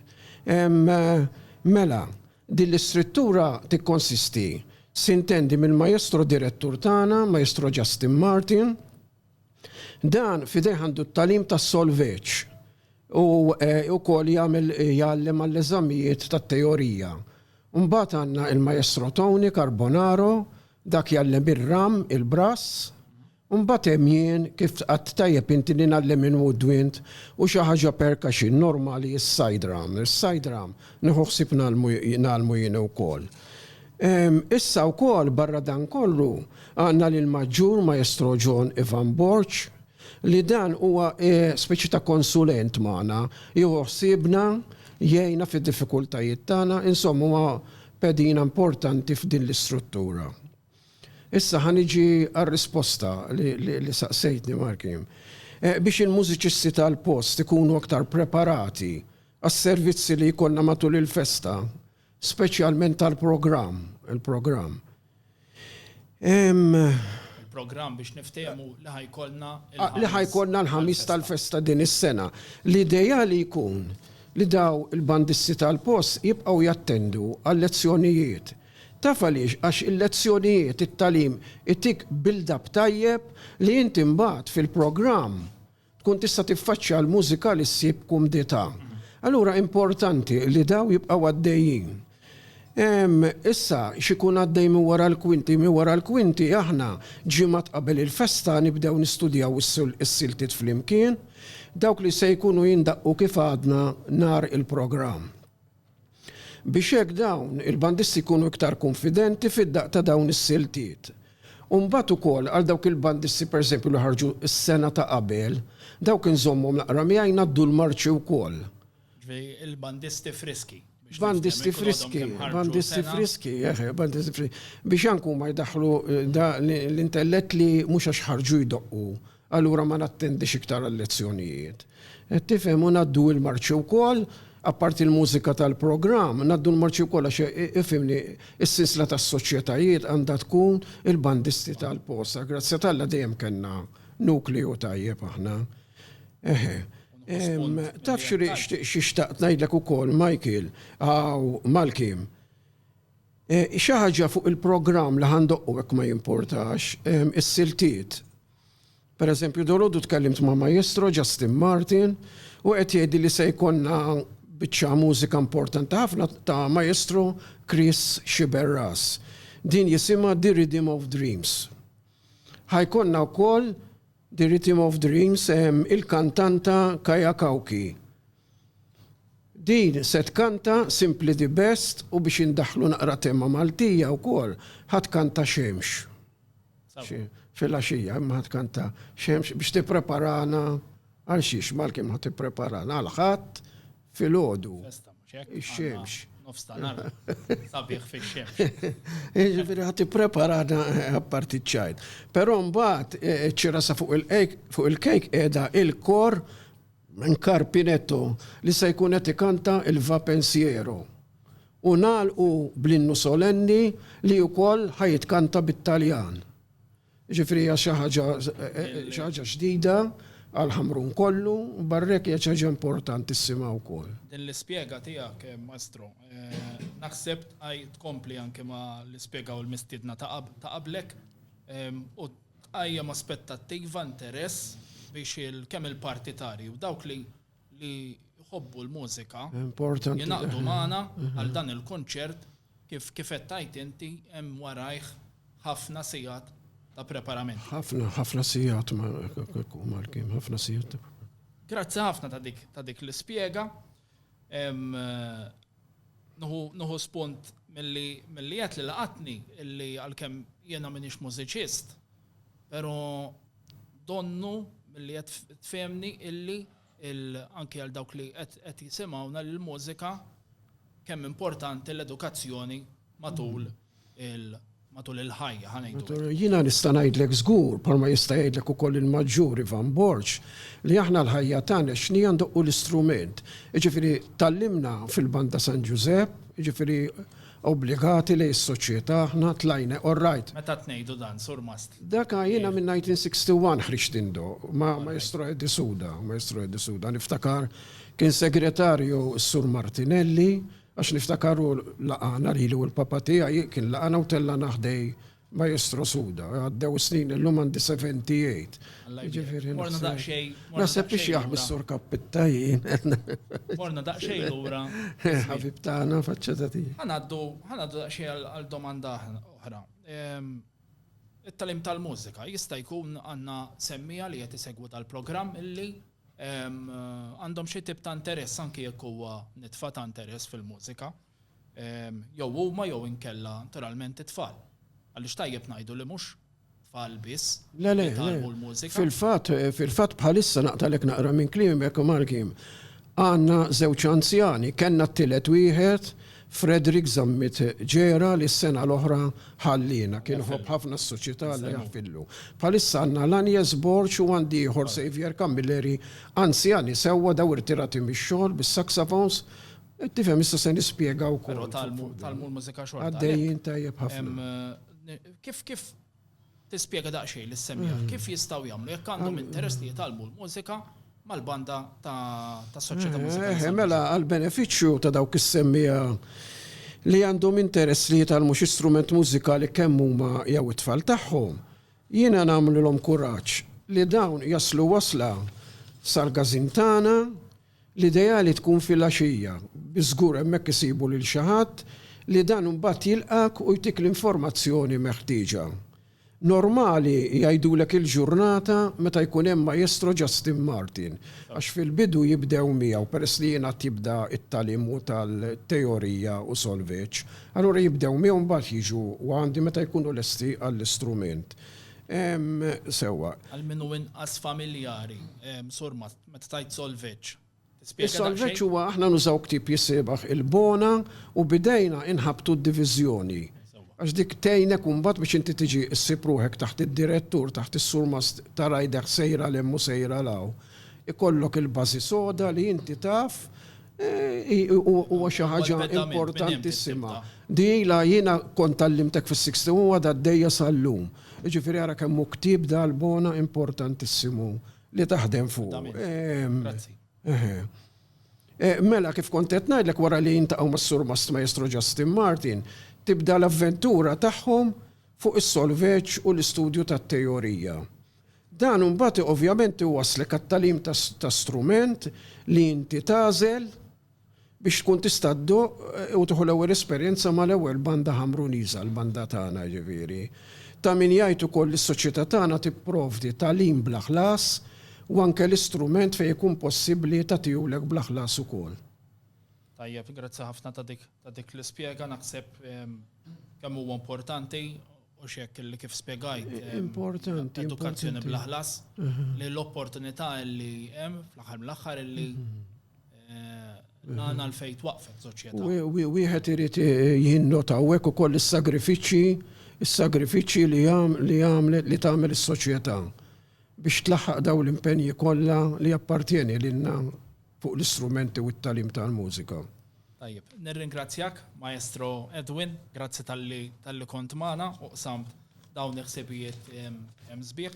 Speaker 1: Mela, din l-istruttura tikkonsisti, sintendi mill-Maestro Direttur tagħna, Maestro Justin Martin, Dan f'idejh għandu t-tagħlim tas-solfeġġ u wkoll jagħmel jgħallem għall-eżamijiet tat-teorija. Mbagħad għandna il-Maestro Tony Carbonaro, dak jgħallem ir-ram, il-brass. U mbagħad hemm jien, kif tqgħadt tajjeb inti li ngħallem il-woodwind u xi ħaġa percussion normali is-side ram. Is-side ram nieħu ħsieb ngħallmu jien ukoll. Issa wkoll barra dan kollu għandna lill-Maġġur Maestro John Ivan Borg li dan huwa speċi ta' konsulent magħna, jieħu ħsiebna, jgħinna fid-diffikultajiet tagħna, insomma huwa pedina importanti f'din l-istruttura. Issa ħa niġi għar-risposta li saqsejtni Marky. Biex il-mużiċisti tal-post ikunu aktar preparati għas-servizzi li jkollna matul il-festa, Speċjalment tal-programm, il-programm. Il-programm biex niftehmu li ħajkolna ah, li ħajkolna l-ħamis tal-festa din is-sena. L-idea li jkun li daw il-bandisti tal-post jibqgħu jattendu għal-lezzjonijiet Taf għaliex, għax il-lezzjonijiet, it-talim, itik build-up tajjeb li inti mbagħad fil-programm tkun tista' tiffaċċja l-mużika li ssib b'kumdità. Allura importanti li dawn jibqgħu għaddejjin. Issa, x'ikun għaddej minn wara l-kwinti? Minn wara l-kwinti aħna ġimgħat qabel il-festa nibdew nistudjaw is-siltiet flimkien, dawk li se jkunu jindaqqu kif għadna nhar il-programm. biex hekk dawn il-bandisti jkunu iktar kunfidenti fid-daqq ta' dawn is-siltiet. U mbagħad ukoll għal dawk il-bandisti pereżempju li ħarġu s-sena ta' qabel, dawk inżommhom l-aqra miegħi ngħaddu l-marċi wkoll. Ġifieri il-bandisti friski, biex nifhem, ikun għadhom kemm ħarġu sena. Bandisti friski, bandisti friski, eħe, bandisti friski. Biex anke huma jdaħħlu l-intellett li mhux għax ħarġu jdoqqu. Allura ma nattendix iktar għal-lezzjonijiet. Qed tifhem? U ngħaddu il-marċi wkoll, apparti l-mużika tal-programm, ngħaddu l-marċi wkoll għax ifhimni, is-sinsla tas-soċjetajiet għandha tkun il-bandisti tal-posta. Grazzja t'Alla dejjem kellna nukleu tajjeb aħna. Eħe. Taf xi xtaqt ngħidlek ukoll, Michael, hawn, Malkim. Xi ħaġa fuq il-programm li ħa ndoqqu jekk ma jimpurtax, is-siltiet. Per eżempju, dalodu tkellimt ma' Maestro Justin Martin u qed jgħidli li se jkollna biċċa mużika importanti ħafna ta' Maestro Chris Sciberras. Din jisimha The Rhythm of Dreams. Ħa jkollna wkoll The Rhythm of Dreams il-kantanta Kaya Kauki. Din se tkanta Simply the Best u biex indaħħlu naqra tema Maltija wkoll, ħa tkanta Xemx. Filgħaxija imma ħa tkanta xemx biex tippreparana għal xiex mal-kim ħa tippreparana għal ħadd filgħodu. Ix-xemx. Nofstanar. Sabiħ fix-xemx. Jiġifieri ħa tippreparana eh, apparti ċajt. Però mbagħad eh, ċirasa fuq il-kejk qiegħda il-kor minn Karpinetto li se jkun qed ikanta il-Vapensiero. u nagħlqu bl-innu solenni li wkoll ħa jitkanta bit-Taljan. Jiġifieri hija xi ħaġa xi ħaġa ġdida għal Ħamrun kollu, u barra hekk hija xi ħaġa importanti ssimgħa wkoll. Din l-ispjega tiegħek, Maestro, naħseb tkompli anke ma' li spjegaw il-mistiedna ta' qablek u tqajjem aspettattiva, interess biex kemm il-partitarji u dawk li li jħobbu l-mużika jinaqdu magħna għal dan il-kunċert kif kif qed tajt inti hemm warajh ħafna sigħat ta' preparament. Ħafna, ħafna sigħat ma' mal-kim, ħafna sigħat ta' Grazzi ħafna ta' dik ta' dik l-ispjega. Nuhu spunt milli qed li laqatni illi għalkemm jiena minix mużiċist, Pero donnu milli qed tfehemni illi anki għal dawk li qed jisimgħuna li l-mużika kemm importanti l-edukazzjoni matul il- matul il-ħajja ħanejdu. Jiena nista' ngħidlek żgur, bħalma jista' jgħidlek ukoll il-Maġġur Ivan Borg, li aħna l-ħajja tagħna x'nija ndoqqu l-istrument. Jiġifieri tgħallimna fil-Banda San Ġużepp, jiġifieri Obbligati li s-soċjetà aħna tlajne all right. Meta tnejdu dan, surmast? Daka jiena minn 1961 ħriġt indo, ma' Maestro Eddie Suda, Maestro Eddie Suda. Niftakar kien segretarju s-Sur Martinelli, għax niftakar hu laqagħna lili u l-papa tiegħi, kien laqagħna u tellagħna ħdej Maestro Suda, għaddew is-snin illum għandi 78. Alla jbierek. Jiġifieri Morna naħseb- daqsxejn. morna Naħseb biex daqsxejn jaħbi lura. s-sur kappitta jien. Morna daqsxejn lura. Ħabib tagħna faċċeta tiegħi. Ħanaddu, ħanaddu daqsxejn għal- għal domanda aħna- oħra. Ehm, It-talim tal-mużika jista' jkun għandna semmija li qed isegwu tal-programm illi ehm, għandhom xi tip ta' interess anke jekk huwa nitfa ta' interess fil-mużika. jew huma jew inkella naturalment it-tfal. Għaliex tajjeb ngħidu li mhux tfal biss li jitgħallmu l-mużika. Fil-fatt, fil-fatt bħalissa naqtalek naqra minn klimek u mal-kliem. Għandna żewġ anzjani, kellna t-tielet wieħed, Frederick Zammit Ġera li s-sena l-oħra ħalliena, kien iħobb ħafna s-soċjetà Alla jaħfirlu. Bħalissa għandna Laniez Borg u għandi ieħor Saviour Camilleri, anzjani sewwa daw irtirati mix-xogħol bis-saxophones Tifhem issa se nispjega wkoll. Però talmu, talmu l-mużika xorta. Għaddejjin tajjeb ħafna. Kif kif tispjega daqsxejn li semmiha, mm. kif jistgħu jagħmlu jekk għandhom interess li jitalmu l-mużika mal-banda ta' soċjetà eh, mużika. Eh, mela għall-benefiċċju ta' dawk is-semmija li għandhom interess li jitalmu xi strument mużikali kemm huma jew it-tfal tagħhom, jiena nagħmlilhom kuraġġ li dawn jaslu wasla sal-gazin tagħna L-ideali tkun filgħaxija, bi żgur hemmhekk isibu lil xi ħadd li dan imbagħad jilqgħek u jtik l-informazzjoni meħtieġa. Normali jgħidulek il-ġurnata meta jkun hemm Maestro Justin Martin, għax fil-bidu jibdew miegħu peress li jien għad jibda t-tagħlimu tal-teorija u solfeġġ, allura jibdew miegħu mbagħad jiġu għandi meta jkunu lesti għall-istrument. Sewwa. Għal min hu inqas familjari, Sur Matt. Meta tgħid solveġġ, tispjega daqsxejn? Is-solveġġ huwa aħna nużaw ktieb jissiebaħ il-bona u b'idejna inħabbtu d-diviżjoni. Għax dik tgħinek imbagħad biex inti tiġi ssib ruħek taħt id-direttur, taħt is-surmast ta' rider sejra 'l hemm u sejra 'l hawn. Ikollok il-bażi soda li inti taf huwa xi ħaġa importantissima. Di ilha jiena kont għallimtek fis-60 u għadha għaddejja sal-lum. Jiġifieri ara kemm hu ktieb dal-bona importantissimu. Li taħdem fuq. Grazzi. Eh, mela, kif kontet najdlek wara li jintaqaw ma' sur Mast Maestro Justin Martin, tibda l-avventura tagħhom fuq is-solveċ u l-istudju ta' teorija. Dan mbagħad ovvjament iwaslek għat-talim ta' strument li inti tażel biex tkun tista' ddoqq u tieħu l-ewwel esperjenza mal-ewwel banda Ħamruniża, l-banda tagħna jiġifieri. Ta' min jgħid ukoll li s-soċjetà tagħna tipprovdi tagħlim bla ħlas u anke l-istrument fejn ikun possibbli ta' tijulek bla ħlas ukoll. Tajjeb, grazzi ħafna ta' dik ta' dik l-ispjega, naħseb kemm huwa importanti u x'hekk li kif spjegajt. Importanti. Edukazzjoni bla ħlas li l-opportunità li hemm fl-aħħar mill-aħħar li Nana l-fej twaqfet soċjetà. Wieħed irid jinnota hekk ukoll is-sagrifiċċji, is-sagrifiċċji li għamlet li tagħmel is-soċjetà biex tlaħħaq dawn l-impenji kollha li jappartjeni lilna fuq l-istrumenti u t-talim tal-mużika. Tajjeb, nirringrazzjak, Maestro Edwin, grazzi tal-li kont magħna u qsamt dawn il-ħsibijiet hemm sbieħ.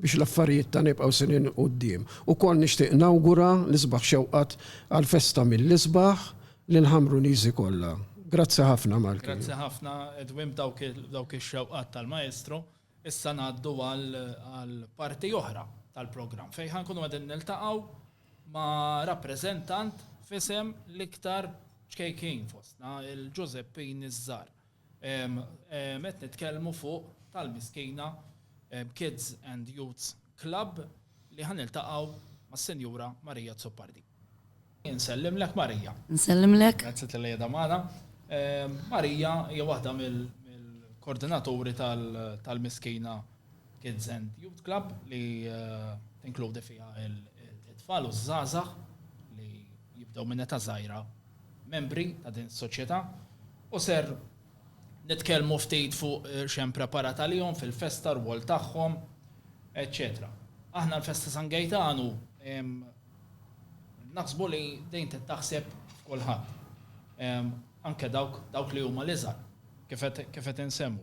Speaker 1: biex l-affarijiet ta' nibqgħu snin 'il quddiem. Ukoll nixtieq nawgura l-isbaħ xewqat għall-festa mill-isbaħ lill-Ħamruniżi kollha. Grazzi ħafna Malky. Grazzi ħafna Edwin b'dawk ix-xewqat tal-Maestro. Issa ngħaddu għal parti oħra tal-programm fejn ħa nkunu qegħdin niltaqgħu ma' rappreżentant f'isem l-iktar ċkejknin fostna, il-Ġużeppini ż-Żgħar. Qed nitkellmu fuq tal-Miskina Kids and Youths Club li ħa niltaqgħu mas-Sinjura Marija Azzopardi. Insellimlek Marija. Insellimlek. Grazzi talli qiegħda magħna. Marija hija waħda mill-kordinaturi tal-Miskina Kids and Youths Club li tinkludi fiha t-tfal u ż-żgħażagħ li jibdew minn età żgħira membri ta' din is-soċjetà u ser nitkellmu ftit fuq x'hemm preparat għalihom fil-festa, r-rwol tagħhom, eċċetera. Aħna l-Festa San Gejtanu naħsbu li dejn tittaħseb f'kulħadd. Anke dawk dawk li huma l-iżgħar kif qed insemmu.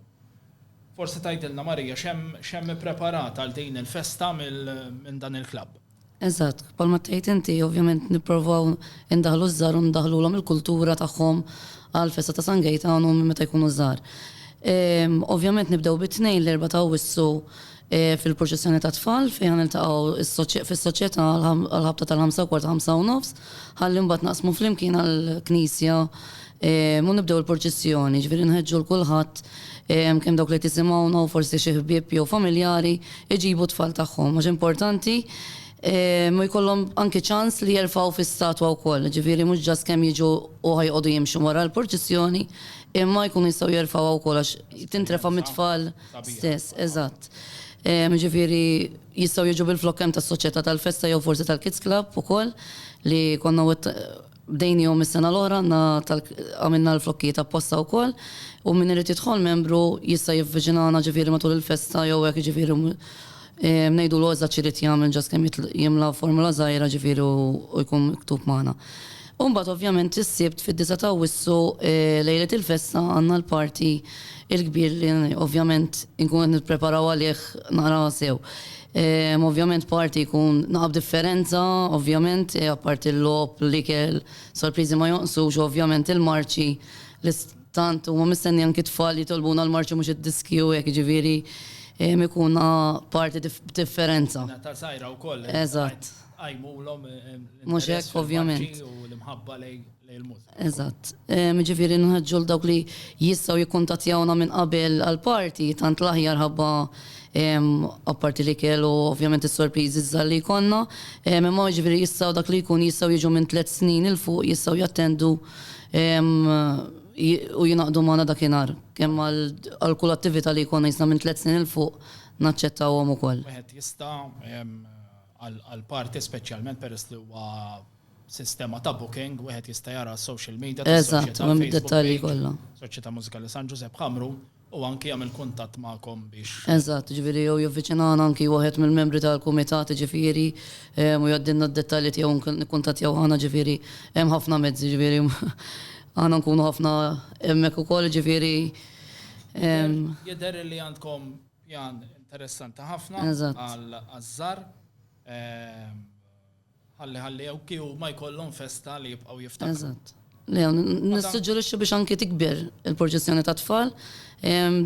Speaker 1: Forsi tgħidilna Marija x'hemm x'hemm ippreparat għal din il-festa minn dan il-klabb. Eżatt, bħalma tgħid inti, ovvjament nipprovaw indaħħlu ż-żgħar u ndaħħlulhom il-kultura tagħhom għall-festa ta' San Gejtan u minn meta jkunu żgħar. Ovvjament nibdew bit-Tnejn l-Erbgħa ta' Awwissu fil-proċessjoni tat-tfal fejn ħa niltaqgħu fis-Soċjetà għall-ħabta tal-ħamsa u kwart ħamsa u nofs ħalli mbagħad naqsmu flimkien għall-knisja Ehm, u nibdew il-purċissjoni, ġviri nħedġu l-kulħadd ehm, kemm dawk li tisimgħuna u forsi xi ħbieb jew familjari iġibu tfal tagħhom. Mhux importanti ehm, u jkollhom anki ċans li jerfgħu fis-statwa wkoll, ġifieri mhux ġas kemm jiġu u ħajqogħdu jimxu wara l-purċissjoni, imma jkunu jistgħu jerfgħu wkoll għax tintrefa mit-tfal stess, eżatt. Ġifieri jistgħu jiġu bil-flokkem tas-soċjetà tal-festa jew forsi tal-Kids Club ukoll li konna Bdejniehom is-sena l-oħra, għandna tal għamilna l-flokkijiet apposta wkoll u min irid jidħol membru jista' jivviċinana ġifieri matul il-festa jew hekk jiġifieri ngħidulu eżatt x'irid jagħmel ġast kemm jimla formola żgħira ġifieri u jkun miktub magħna. U mbagħad ovvjament is-Sibt fid-disgħa ta' Awwissu lejlet il-festa għandna l-party il-kbir li ovvjament inkunu qed nippreparaw għalih naqra sew. Ovvjament party jkun naqab differenza ovvjament apparti l-logħob, l-ikel, sorpriżi ma jonqsux u ovvjament il-marċi li tant huma mistenni anki t-tfal jitolbuna l-marċi mhux id-diski u hekk jiġifieri ikun party b'differenza. Natal sajra wkoll. Eżatt. Qajmulhom l-interess fil-marċi u l-imħabba lejn. Eżatt. Jiġifieri nħeġġu lil dawk li jistgħu jikkuntattjawna minn qabel għall-party, tant l-aħjar ħabba apparti l-ikel u ovvjament is-sorpriżi żgħar li jkollna. Imma jiġifieri jistgħu dak li jkun jistgħu jiġu minn tliet snin 'il fuq jistgħu jattendu u jingħaqdu magħna dakinhar. Kemm għal kull attività li jkollna jistgħu minn tliet snin 'il fuq naċċettawhom ukoll. Wieħed jista' għall-party speċjalment peress li huwa Sistema ta' booking, wieħed jista' jara s-social media tas-Soċjetà fuq Facebook. Eżatt, u hemm id-dettalji kollha. Soċjetà Mużikali San Ġużepp Ħamru u anki jagħmel kuntatt magħkom biex. Eżatt, jiġifieri jew jivviċinana anki wieħed mill-membri tal-kumitat jiġifieri u jgħaddilna d-dettalji tiegħu nikkuntattjaw aħna jiġifieri hemm ħafna mezzi jiġifieri aħna nkunu ħafna hemmhekk ukoll jiġifieri. Jidher li għandkom pjan interessanti ħafna għaż-Żar. Ħalli ħalli jew kif huma jkollhom festa li jibqgħu jiftakru. Eżatt. Le, nissuġġerixxi biex anke tikber il-proċessjoni tat-tfal.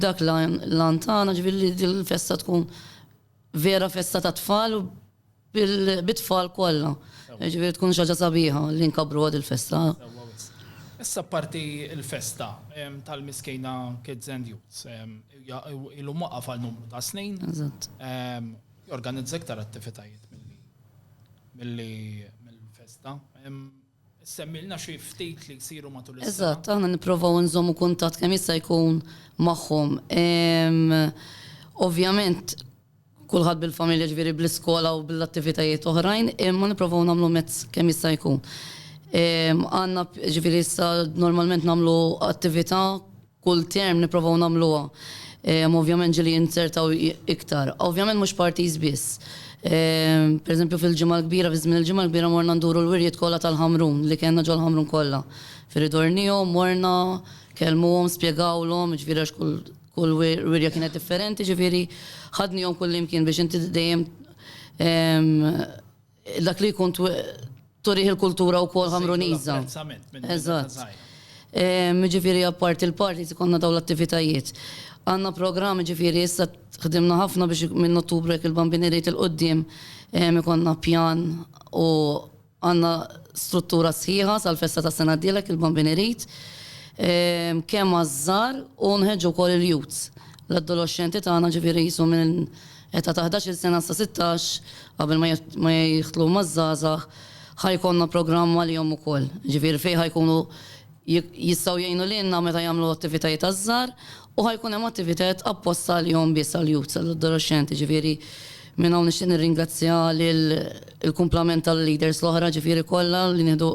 Speaker 1: Dak l-għan tagħna ġifieri li din il-festa tkun vera festa tat-tfal u bit-tfal kollha. Ġifieri tkun xi ħaġa sabiħa li nkabruha din il-festa. Issa apparti l-festa tal-Miskejna Kids and Youths, ilu waqaf għal numru ta' snin. Eżatt. Jorganizza iktar attivitajiet milli mill-festa. Semmilna xi ftit li jsiru matul is-sena. Eżatt, aħna nipprovaw nżommu kuntatt kemm jista' jkun magħhom. Ovvjament kulħadd bil-familja ġifieri bl-iskola u bl-attivitajiet oħrajn, imma nipprovaw nagħmlu mezz kemm jista' jkun. Għandna ġifieri issa normalment nagħmlu attività Kull term nipprovaw nagħmluha hemm ovvjament ġieli jinzertaw iktar. Ovvjament mhux parties biss. Pereżempju fil-Ġimgħa l-Kbira, fi żmien il-Ġimgħa l-Kbira morna nduru l-wirjiet kollha tal-Ħamrun li kellna ġol-Ħamrun kollha. Fi ridornihom morna, kellmuhom, spjegawlhom, jiġifieri għax kull kull wirja kienet differenti, jiġifieri ħadnihom kullimkien biex inti dejjem Dak li jkun turih il-kultura u kol ħamruniza. Eżatt. Ġifiri għappart il-parti konna daw l-attivitajiet. Għanna program ġifiri issa ħdimna ħafna biex minn ottubru jek il-bambini rrit il-qoddim konna pjan u għanna struttura sħiħa sal-festa ta' sena d-dilek il-bambini rrit. Kem għazzar u nħedġu kol il-jut. L-adolescenti ta' għana ġifiri jisu minn Età ta' ħdax-il sena sa sittax, qabel ma jidħlu maż-żgħażagħ, ħa jkollna programm għalihom ukoll. Jiġifieri fejn ħa jkunu jistgħu jgħinu lilna meta jagħmlu attivitajiet għaż-żgħar u ħa jkun hemm attivitajiet apposta għalihom biss, għall-youths, għall-adolexxenti. Jiġifieri minn hawn nixtieq nirringrazzja lill-kumplament tal-leaders l-oħra, jiġifieri kollha li nieħdu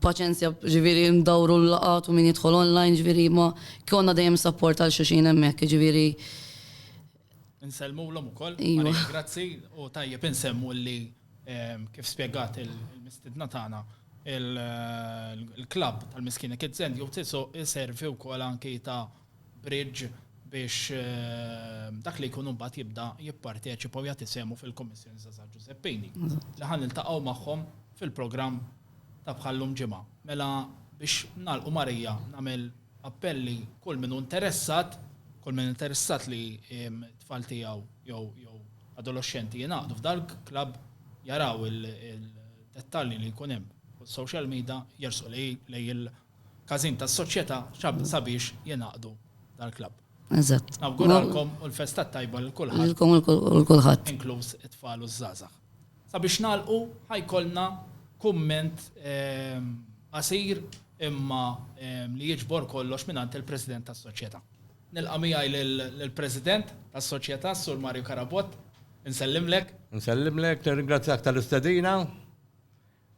Speaker 1: paċenzja, jiġifieri ndawru l-laqgħat u min jidħol online, jiġifieri ma jkollna dejjem support għal xulxin hemmhekk. Jiġifieri Nsellmu l-om u koll, grazzi, u tajjeb nsemmu li ehm, kif spiegat il-mistidna tagħna il-klab tal-miskina kidzen jew tisu iservi u koll anki ta' bridge biex ehm, dak li jkunu mbagħad jibda jipparteċipa u jagħti semu fil-Kommissjoni Zaza Giuseppini. Li ħan niltaqgħu magħhom fil-programm ta' bħallum ġimgħa. Mela biex nalqu Marija nagħmel appell li kull min hu interessat, kull min interessat li t-tfal tiegħu jew jew adoloxxenti jingħaqdu f'dal club jaraw il-dettalji li jkun hemm fuq social media jersqu lej il-każin tas-soċjetà sabiex jingħaqdu dal club Eżatt. Nawguralkom u l-festa t-tajba lil kulħadd. Lilkom u l-kulħadd. Inkluż it-tfal u ż-żgħażagħ. Sabiex nagħlqu ħa jkollna kumment qasir imma li jiġbor kollox mingħand il-President tas-Soċjetà. Nilqa' miegħi lill-President tas-Soċjetà, s-Sur Mario Carabott. Insellimlek. Insellimlek, nirringrazzjak tal-istedina.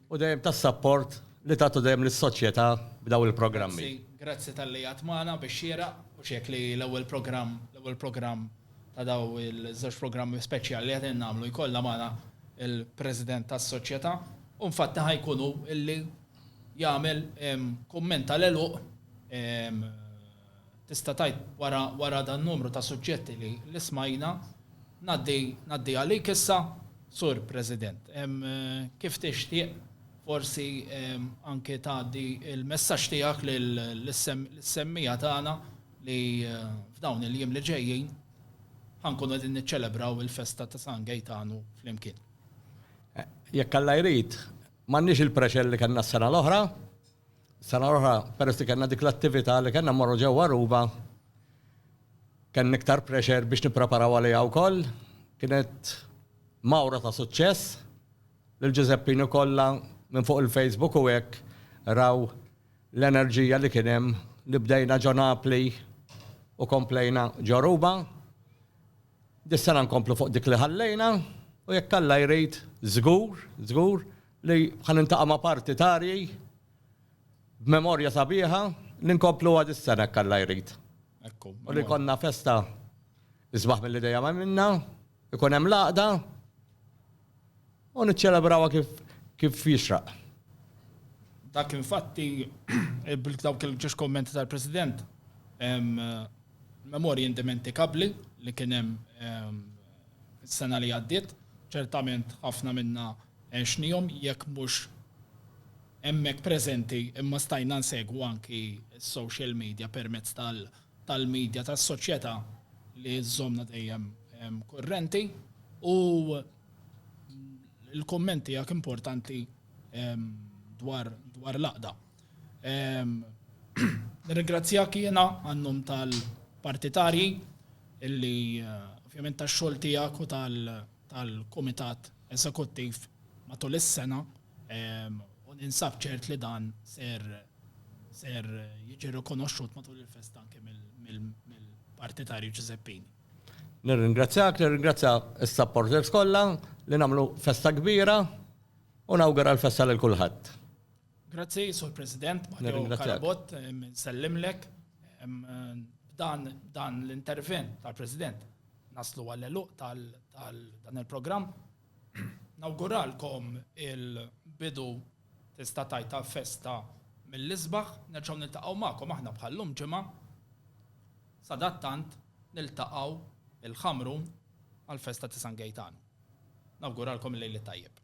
Speaker 1: u dejjem tas-sapport li tagħtu dejjem lis-soċjetà b'dawn il-programmi. Grazzi, grazzi talli qiegħed magħna bix-xieraq u x'hekk li l-ewwel programm, l-ewwel programm ta' dawn iż-żewġ programmi speċjali li qegħdin nagħmlu jkollna magħna l-President tas-Soċjetà u infatti ħa jkun hu li jagħmel kumment tal-għeluq Tista' tgħid wara wara dan-numru ta' suġġetti li li smajna, ngħaddi ngħaddi għalik issa, Sur President. Kif tixtieq forsi anke tgħaddi l-messaġġ tiegħek lil lis-semmiegħa tagħna li f'dawn il-jiem li ġejjin ħa nkunu qegħdin niċċelebraw il-festa ta' San Gejtanu flimkien. Jekk Alla jrid, m'għandniex il-pressure li kellna s-sena l-oħra, Sena l-oħra peress li kellna dik l-attività li kellna mmorru ġewwa Aruba, kellna iktar pressure biex nippreparaw għaliha wkoll. Kienet mawra ta' suċċess li l-Ġużeppini kollha minn fuq il-Facebook u hekk raw l-enerġija li kien hemm li bdejna ġo Napli u komplejna ġo Aruba. Dis-sena nkomplu fuq dik li ħallejna u jekk Alla jrid żgur, żgur, li ħa niltaqa' ma' partitarji b'memorja sabiħa li nkompluha dis-sena jekk Alla jrid. U li jkollna festa isbaħ milli dejjem għamilna, ikun hemm l-għaqda u niċċelebrawha kif kif jixraq. Dak infatti dawk il-ġiex kummenti tal-President, memorji indimentikabbli li kien hemm Is-sena li għaddiet, ċertament ħafna minna għexnihom jekk mhux hemmhekk preżenti imma stajna nsegwu anki s-social media permezz tal-media tas-soċjetà li żżommna dejjem kurrenti u l-kumment tiegħek importanti dwar l-għaqda. Nirringrazzjak jiena għan-nom tal-partitarji illi ovvjament tax-xogħol tiegħek u tal-Kumitat Eżekuttiv matul is-sena u ninsab ċert li dan ser ser jiġi rikonoxxut matul il-festa anke mill-partitarji Ġużeppini. Nirringrazzjak, nirringrazzja s-supporters kollha li nagħmlu festa kbira u nawgura l-festa lil kulħadd. Grazzi, Sur President, Mario Carabott, nsellimlek. Dan, dan l-intervent tal-President naslu għall-eluq tal-dan il-programm. Nawguralkom il-bidu tista' tajt ta' festa mill-isbaħ, nerġgħu niltaqgħu magħkom aħna bħal-lum ġimgħa. Sadattant niltaqgħu il-Ħamrun għall-festa ta' San Gejtan. Nawguralkom il-lejl it-tajjeb.